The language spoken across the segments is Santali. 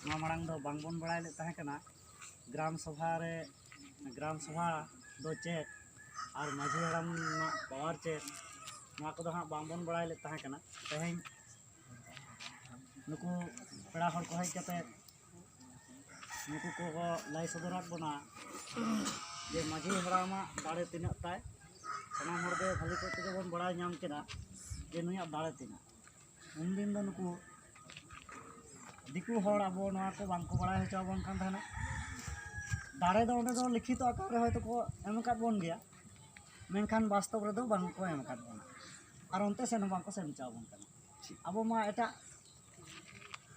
ᱱᱚᱣᱟ ᱢᱟᱲᱟᱝ ᱫᱚ ᱵᱟᱝᱵᱚᱱ ᱵᱟᱲᱟᱭ ᱞᱮᱫ ᱛᱟᱦᱮᱸ ᱠᱟᱱᱟ ᱜᱨᱟᱢ ᱥᱚᱵᱷᱟ ᱨᱮ ᱜᱨᱟᱢ ᱥᱚᱵᱷᱟ ᱫᱚ ᱪᱮᱫ ᱟᱨ ᱢᱟᱹᱡᱷᱤ ᱦᱟᱲᱟᱢ ᱨᱮᱱᱟᱜ ᱯᱟᱣᱟᱨ ᱪᱮᱫ ᱱᱚᱣᱟ ᱠᱚᱫᱚ ᱦᱟᱸᱜ ᱵᱟᱝᱵᱚᱱ ᱵᱟᱲᱟᱭ ᱞᱮᱫ ᱛᱟᱦᱮᱸ ᱠᱟᱱᱟ ᱛᱮᱦᱮᱧ ᱱᱩᱠᱩ ᱯᱮᱲᱟ ᱦᱚᱲ ᱠᱚ ᱦᱮᱡ ᱠᱟᱛᱮᱫ ᱱᱩᱠᱩ ᱠᱚᱠᱚ ᱞᱟᱹᱭ ᱥᱚᱫᱚᱨᱟᱫ ᱵᱚᱱᱟ ᱡᱮ ᱢᱟᱹᱡᱷᱤ ᱦᱟᱲᱟᱢᱟᱜ ᱫᱟᱲᱮ ᱛᱤᱱᱟᱹᱜ ᱛᱟᱭ ᱥᱟᱱᱟᱢ ᱦᱚᱲᱜᱮ ᱵᱷᱟᱹᱞᱤ ᱠᱚᱡ ᱛᱮᱜᱮ ᱵᱚᱱ ᱵᱟᱲᱟᱭ ᱧᱟᱢ ᱠᱮᱫᱟ ᱡᱮ ᱱᱩᱭᱟᱜ ᱫᱟᱲᱮ ᱛᱤᱱᱟᱹᱜ ᱩᱱᱫᱤᱱ ᱫᱚ ᱱᱩᱠᱩ ᱫᱤᱠᱩ ᱦᱚᱲ ᱟᱵᱚ ᱱᱚᱣᱟ ᱠᱚ ᱵᱟᱝ ᱠᱚ ᱵᱟᱲᱟᱭ ᱦᱚᱪᱚ ᱟᱵᱚᱱ ᱠᱟᱱ ᱛᱟᱦᱮᱱᱟ ᱫᱟᱲᱮ ᱫᱚ ᱚᱸᱰᱮ ᱫᱚ ᱞᱤᱠᱷᱤᱛᱚ ᱟᱠᱟᱨ ᱨᱮ ᱦᱚᱭᱛᱳ ᱠᱚ ᱮᱢ ᱟᱠᱟᱫ ᱵᱚᱱ ᱜᱮᱭᱟ ᱢᱮᱱᱠᱷᱟᱱ ᱵᱟᱥᱛᱚᱵ ᱨᱮᱫᱚ ᱵᱟᱝ ᱠᱚ ᱮᱢ ᱟᱠᱟᱫ ᱵᱚᱱᱟ ᱟᱨ ᱚᱱᱛᱮ ᱥᱮᱱ ᱦᱚᱸ ᱵᱟᱝ ᱠᱚ ᱥᱮᱱ ᱦᱚᱪᱚ ᱟᱵᱚᱱ ᱠᱟᱱᱟ ᱟᱵᱚ ᱢᱟ ᱮᱴᱟᱜ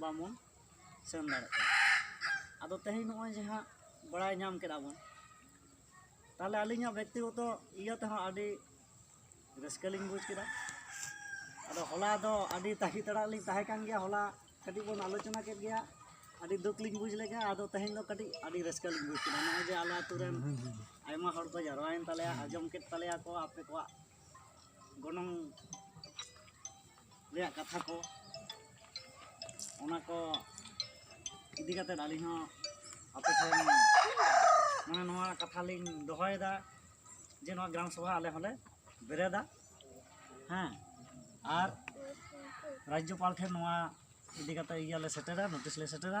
ᱵᱟᱵᱚᱱ ᱥᱮᱱ ᱫᱟᱲᱮᱭᱟᱜ ᱠᱟᱱᱟ ᱟᱫᱚ ᱛᱮᱦᱮᱧ ᱱᱚᱜᱼᱚᱭ ᱡᱮ ᱦᱟᱸᱜ ᱵᱟᱲᱟᱭ ᱧᱟᱢ ᱠᱮᱫᱟ ᱵᱚᱱ ᱛᱟᱦᱚᱞᱮ ᱟᱹᱞᱤᱧᱟᱜ ᱵᱮᱠᱛᱤᱜᱚᱛᱚ ᱤᱭᱟᱹ ᱛᱮᱦᱚᱸ ᱟᱹᱰᱤ ᱨᱟᱹᱥᱠᱟᱹ ᱞᱤᱧ ᱵᱩᱡᱽ ᱠᱮᱫᱟ ᱟᱫᱚ ᱦᱚᱞᱟ ᱫᱚ ᱟᱹᱰᱤ ᱛᱟᱺᱜᱤ ᱛᱟᱲᱟᱜ ᱞᱤᱧ ᱛᱟᱦᱮᱸ ᱠᱟᱱ ᱜᱮᱭᱟ ᱦᱚᱞᱟ ᱠᱟᱹᱴᱤᱡ ᱵᱚᱱ ᱟᱞᱳᱪᱚᱱᱟ ᱠᱮᱫ ᱜᱮᱭᱟ ᱟᱹᱰᱤ ᱫᱩᱠ ᱞᱤᱧ ᱵᱩᱡᱽ ᱞᱮᱫᱟ ᱟᱫᱚ ᱛᱮᱦᱮᱧ ᱫᱚ ᱠᱟᱹᱴᱤᱡ ᱟᱹᱰᱤ ᱨᱟᱹᱥᱠᱟᱹ ᱞᱤᱧ ᱵᱩᱡᱽ ᱠᱮᱫᱟ ᱱᱚᱜᱼᱚᱭ ᱡᱮ ᱟᱞᱮ ᱟᱹᱛᱩ ᱨᱮᱱ ᱟᱭᱢᱟ ᱦᱚᱲ ᱠᱚ ᱡᱟᱨᱣᱟᱭᱮᱱ ᱛᱟᱞᱮᱭᱟ ᱟᱸᱡᱚᱢ ᱠᱮᱫ ᱛᱟᱞᱮᱭᱟ ᱠᱚ ᱟᱯᱮ ᱠᱚᱣᱟᱜ ᱜᱚᱱᱚᱝ ᱨᱮᱭᱟᱜ ᱠᱟᱛᱷᱟ ᱠᱚ ᱚᱱᱟ ᱠᱚ ᱤᱫᱤ ᱠᱟᱛᱮ ᱟᱹᱞᱤᱧ ᱦᱚᱸ ᱟᱯᱮ ᱴᱷᱮᱱ ᱢᱟᱱᱮ ᱱᱚᱣᱟ ᱠᱟᱛᱷᱟ ᱞᱤᱧ ᱫᱚᱦᱚᱭᱮᱫᱟ ᱡᱮ ᱱᱚᱣᱟ ᱜᱨᱟᱢ ᱥᱚᱵᱷᱟ ᱟᱞᱮ ᱦᱚᱸᱞᱮ ᱵᱮᱨᱮᱫᱟ ᱦᱮᱸ ᱟᱨ ᱨᱟᱡᱽᱡᱚᱯᱟᱞ ᱴᱷᱮᱱ ᱱᱚᱣᱟ ᱤᱫᱤ ᱠᱟᱛᱮ ᱤᱭᱟᱹ ᱞᱮ ᱥᱮᱴᱮᱨᱟ ᱱᱳᱴᱤᱥ ᱞᱮ ᱥᱮᱴᱮᱨᱟ